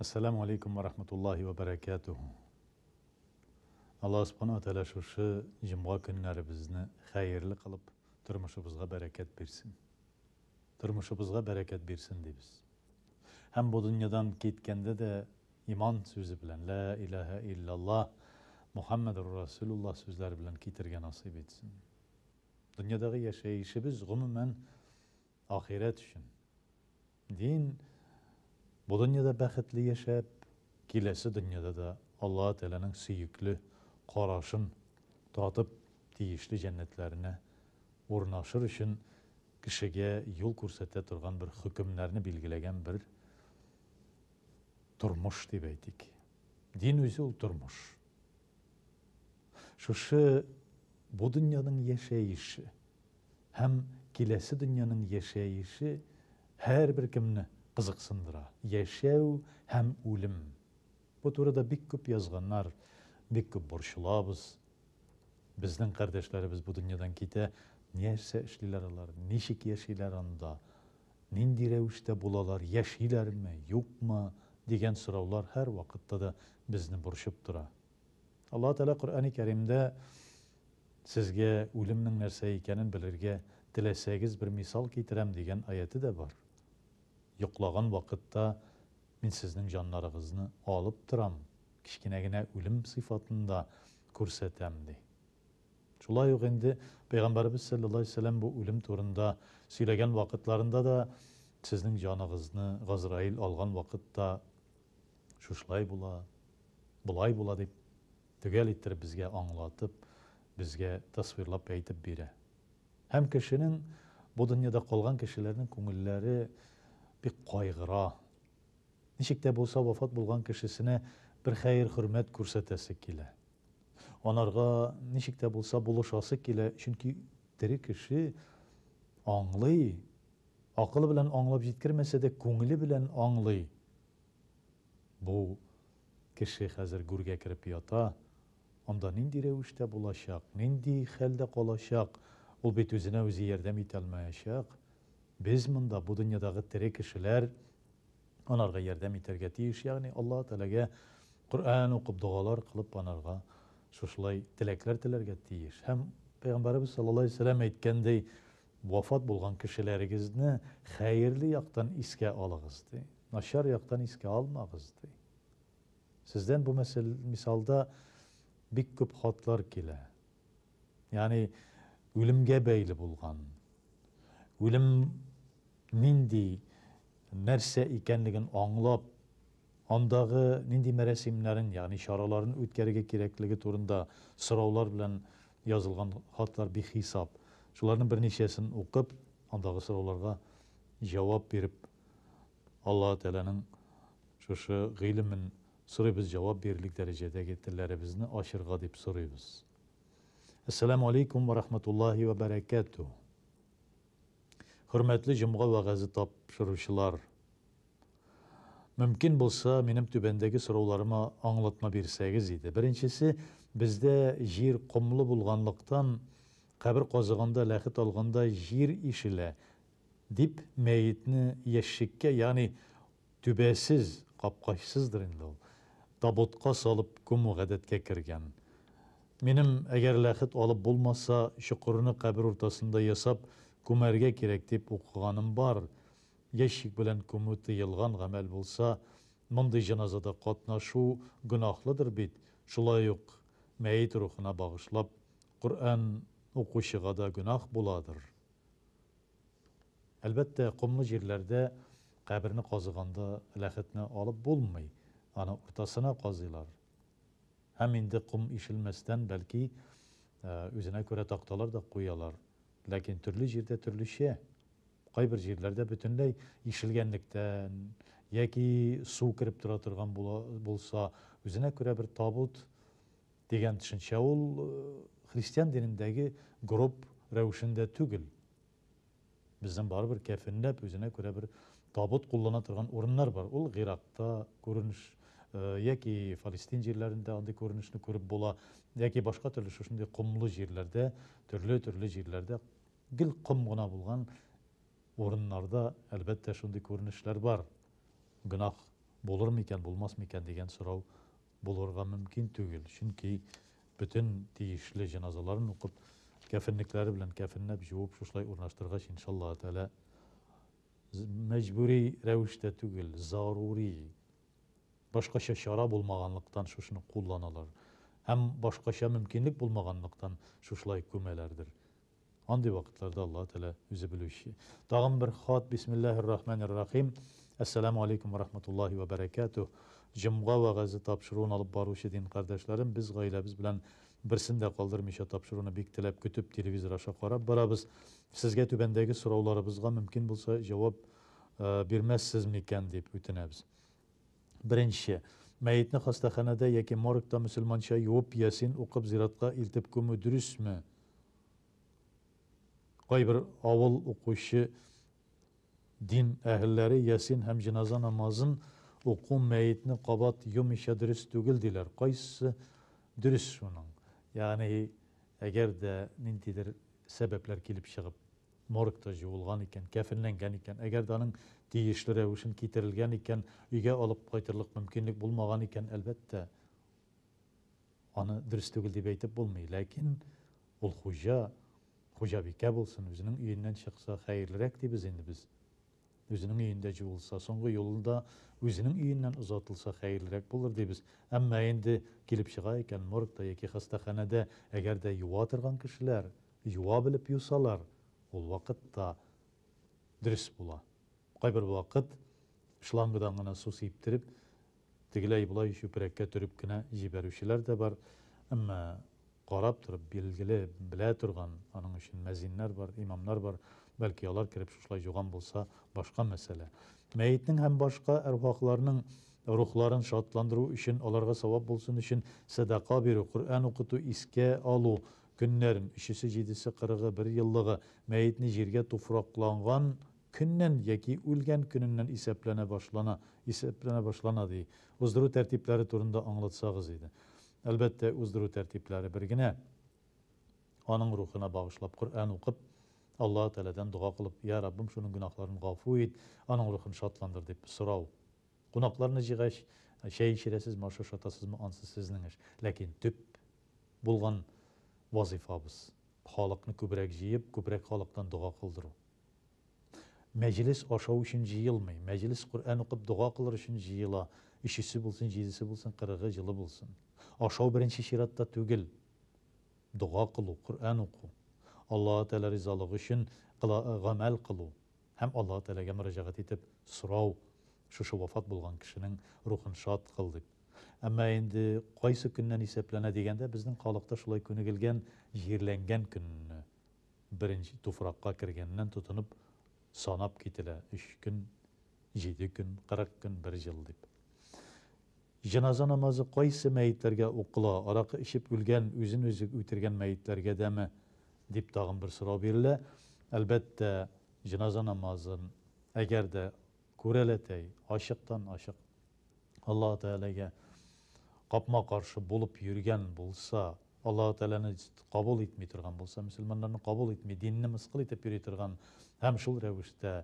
Ассаламу алейкум ва рахматуллахи ва баракатуху. Аллаһ Субхану ва Тәгалә шушы җомга көннәребезне хәерле кылып, тормышыбызга бәрәкәт бирсен. Тормышыбызга бәрәкәт бирсен дибез. Һәм бу дөньядан киткәндә дә иман сүзе белән, лә илаһа иллаллаһ, Мухаммадур Расулуллаһ сүзләре белән китергә насыйп итсен. Дөньядагы яшәешебез, гомумән, Ахирәт өчен. Дин, бу дөньяда бәхетле яшәп, киләсе дөньяда да Аллаһы Тәгаләнең сөекле карашын татып, тиешле җәннәтләренә урнашыр өчен кешегә юл күрсәтә торган бер хөкемнәрне билгеләгән бер тормыш дип әйтик. Дин үзе ул тормыш. Шушы бу дөньяның яшәеше. Һәм киләсе дөньяның яшәеше һәрбер кемне кызыксындыра. Яшәү һәм үлем. Бу турыда бик күп язганнар, бик күп борчылабыз. Безнең кардәшләребез бу дөньядан китә, нәрсә эшлиләр алар, ничек яшиләр анда, нинди рәвештә булалар, яшиләрме, юкмы, дигән сораулар һәрвакытта да безне борчып тора. Аллаһы Тәгалә Коръәни Кәримдә Сезгә үлемнең нәрсә икәнен белергә теләсәгез, бер мисал китерәм, дигән аяте дә бар. Йоклаган вакытта Мин сезнең җаннарыгызны алып торам, кечкенә генә үлем сыйфатында күрсәтәм, ди. Шулай ук инде Пәйгамбәребез сәлләллаһу галәйһи вә сәлләм бу үлем турында сөйләгән вакытларында да, Сезнең җаныгызны Газраил алган вакытта шушылай була, болай була, дип төгәл иттереп безгә аңлатып, безгә тасвирлап әйтеп бирә. Һәм кешенең, бу дөньяда калган кешеләрнең күңелләре бик кайгыра. Ничек тә булса вафат булган кешесенә бер хәер-хөрмәт күрсәтәсе килә. Анарга ничек тә булса булышасы килә, чөнки тере кеше аңлый, акылы белән аңлап җиткермәсә дә, күңеле белән аңлый, Бу кеше хәзер гүргә кереп ята, анда нинди рәвештә булачак, нинди хәлдә калачак, ул бит үзенә үзе ярдәм итә алмаячак. Без монда, бу дөньядагы тере кешеләр, анарга ярдәм итәргә тиеш, ягъни Аллаһы Тәгаләгә Коръән укып, догалар кылып, анарга шушылай теләкләр теләргә тиеш. Һәм Пәйгамбәребез саллаллаһу галәйһи ва сәлләм әйткәндәй, Вафат булган кешеләрегезне хәерле яктан искә алыгыз, ди. Начар яктан искә алмагыз, ди. Сездән бу мәсәл, мисалда бик күп хатлар килә. Ягъни үлемгә бәйле булган, үлем нинди нәрсә икәнлеген аңлап, андагы нинди мәрәсимнәрен, ягъни чараларын үткәрергә кирәклеге турында сораулар белән Язылган хатлар бихисап. Шуларның берничәсен укып, андагы сорауларга җавап биреп, Аллаһы Тәгаләнең шушы гыйлемен сорыйбыз, җавап бирерлек дәрәҗәдәге телләребезне ачырга дип сорыйбыз. Әссәламү алейкум вә рахмәтуллаһи вә бәрәкәтүһ. Хөрмәтле җомга вәгазе тапшыручылар! Мөмкин булса, минем түбәндәге сорауларыма аңлатма бирсәгез иде. Беренчесе, бездә җир комлы булганлыктан, кабер казыганда, ләхет алганда җир ишелә, дип мәетне ящикка, ягъни түбәсез, капкачсыздыр инде ул, табутка салып күмү гадәткә кергән. Минем, әгәр ләхет алып булмаса, чокырны кабер уртасында ясап күмәргә кирәк дип укыганым бар. Ящик белән күмү тыелган гамәл булса, мондый җеназада катнашу гөнаһлыдыр бит, шулай ук мәет рухына багышлап Коръән укучыга да гөнаһ буладыр. Әлбәттә, комлы җирләрдә каберне казыганда ләхетне алып булмый, аны уртасына казыйлар. Һәм инде ком ишелмәстән, бәлки, үзенә күрә такталар да куялар. Ләкин төрле җирдә төрлечә. Кайбер җирләрдә бөтенләй ишелгәнлектән, яки су кереп тора торган була, булса, үзенә күрә бер табут дигән төшенчә ул христиан динендәге гроб рәвешендә түгел. Безнең барыбер кәфенләп, үзенә күрә бер Табут куллана торган урыннар бар, ул Гыйракта күренеш яки Фалестин җирләрендә андый күренешне күреп була, яки башка төрле шушындый комлы җирләрдә, төрле-төрле җирләрдә гел ком гына булган урыннарда, әлбәттә, шундый күренешләр бар. Гөнаһ булырмы икән, булмасмы икән дигән сорау булырга мөмкин түгел, чөнки бөтен тиешле җеназаларын укып, кәфенлекләре белән кәфенләп, җуып шушылай урнаштыргач, иншаллаһы тәгалә, мәҗбүри рәвештә түгел, зарури, башкача чара булмаганлыктан шушыны кулланалар. Һәм башкача мөмкинлек булмаганлыктан шушылай күмәләрдер. Андый вакытларда Алла Тәлә үзе белүче. Тагын бер хат, бисмиллахир рахманир рахим. Әссәламу алейкум ва рахматуллахи ва бәрәкәтү. Җомга вәгазе тапшыруын алып баручы дин кардәшләрем, без гаиләбез белән берсен дә калдырмыйча тапшыруны бик теләп көтеп телевизор аша карап барабыз. Сезгә түбәндәге сорауларыбызга мөмкин булса җавап бирмәссез микән дип үтенәбез. Беренче. Мәетне хастаханәдә яки моргта мөселманча юып, ясин укып зиратка илтеп күмү дөресме? Кайбер авыл укучы дин әһелләре ясин һәм җеназа намазын уку мәетне кабат юмыйча дөрес түгел диләр. Кайсы дөрес шуның? Ягъни әгәр дә ниндидер Сәбәпләр килеп чыгып, моргта җуылган икән, кәфенләнгән икән, әгәр дә аның тиешле рәвешен китерелгән икән, өйгә алып кайтырлык мөмкинлек булмаган икән, әлбәттә, аны дөрес түгел дип әйтеп булмый. Ләкин ул хуҗа, хуҗабикә булсын, үзенең өеннән чыкса, хәерлерәк дибез инде без. Үзенең өендә җуылса, соңгы юлын да үзенең өеннән озатылса хәерлерәк булыр дибез. Әмма инде килеп чыга икән, моргта яки хастаханәдә, әгәр дә юа торган кешеләр юа белеп юсалар, ул вакыт та дөрес була. Кайбер вакыт шлангадан гына су сиптереп, Тегеләй-болай чүпрәккә төреп кенә җибәрүчеләр дә бар, әмма карап торып, билгеле, белә торган аның өчен мәзиннәр бар, имамнар бар, бәлки, алар кереп шушылай җуган булса, башка мәсьәлә. Мәетнең һәм башка әрвахларның рухларын шатландыру өчен, аларга савап булсын өчен сәдака бирү, Коръән укыту, искә алу көннәрен, өчесе, җидесе, кырыгы, берьеллыгы, мәетне җиргә туфракланган көннән яки үлгән көненнән исәпләнә башлана, исәпләнә башлана, ди. Уздыру тәртипләре турында аңлатсагыз иде. Әлбәттә, уздыру тәртипләре бер генә. Аның рухына багышлап Коръән укып, Аллаһ Тәгаләдән дога кылып, Йә, Раббым, шуның гөнаһларын гафу ит, аның рухын шатландыр, дип сорау. Кунакларны җыйгач, чәй эчерәсезме, аш ашатасызмы, ансы сезнең эш. Ләкин төп булган вазыйфабыз, халыкны күбрәк җыеп, күбрәк халыктан дога кылдыру. Мәҗлес ашау өчен җыелмый. Мәҗлес Коръән укып, дога кылыр өчен җыела. Өчесе булсын, җидесе булсын, кырыгы җылы булсын. Ашау беренче чиратта түгел. Дога кылу, Коръән уку, Аллаһы Тәгалә ризалыгы өчен гамәл кылу һәм Аллаһы Тәгаләгә мөрәҗәгать итеп сорау, шушы вафат булган кешенең рухын шат кыл дип. Әмма инде кайсы көннән исәпләнә дигәндә, безнең халыкта шулай күнегелгән, җирләнгән көнне Беренче туфракка кергәннән тотынып санап кителә, өч көн, җиде көн, кырык көн, бер җыл дип. Җеназа намазы кайсы мәетләргә укыла, аракы эчеп үлгән, үзен-үзе үтергән мәетләргә дәме? дип тагын бер сорау бирелә. Әлбәттә, җеназа намазын, әгәр дә Күрәләтәй, ачыктан-ачык Аллаһы Тәгаләгә капма-каршы булып йөргән булса, Аллаһы Тәгаләне кабул итми торган булса, мөселманнарны кабул итми, динне мыскыл итеп йөри торган һәм шул рәвештә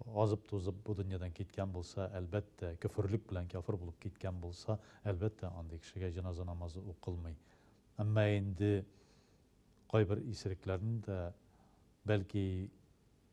азып-тузып бу дөньядан киткән булса, әлбәттә, көферлек белән кяфер булып киткән булса, әлбәттә, андый кешегә җеназа намазы укылмый. Әмма инде кайбер исерекләрне дә, бәлки,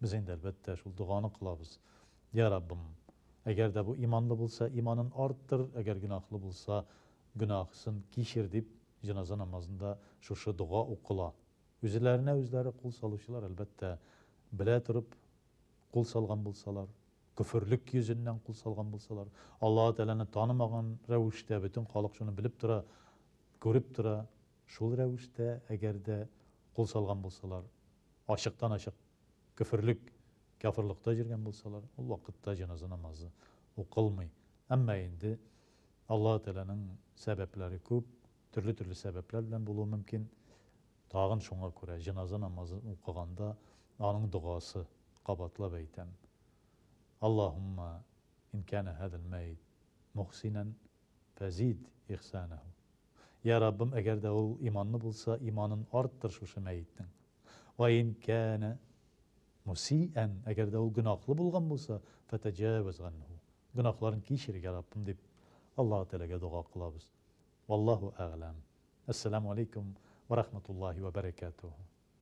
Без инде, әлбәттә, шул доганы кылабыз, Йә, Раббым, әгәр дә бу иманлы булса, иманын арттыр, әгәр гөнаһлы булса, гөнаһысын кичер, дип, җеназа намазында шушы дога укыла. Үзләренә-үзләре кул салучылар, әлбәттә, белә торып кул салган булсалар, көферлек йөзеннән кул салган булсалар, Аллаһы Тәгаләне танымаган рәвештә, бөтен халык шуны белеп тора, күреп тора, Шул рәвештә, әгәр дә кул салган булсалар, ачыктан-ачык көферлек, кяферлыкта җөргән булсалар, ул вакытта җеназа намазы укылмый. Әмма инде Аллаһы Тәгаләнең сәбәпләре күп, төрле-төрле сәбәпләр белән булуы мөмкин. Тагын шуңа күрә җеназа намазын укыганда аның догасы, кабатлап әйтәм, Аллаһуммә ин кәнә һазал мәйет мөхсинән фәзид ихсанәһү Йә, Раббым, әгәр дә ул иманлы булса, иманын арттыр шушы мәетнең. Вә ин кәнә мусиән, әгәр дә ул гөнаһлы булган булса, фәтәҗәвәз ганһу, гөнаһларын кичер, йә, Раббым, дип, Аллаһы Тәгаләгә дога кылабыз. Валлаһу әгъләм. Әссәламү алейкүм вә рахматуллаһи вә бәрәкәтүһү.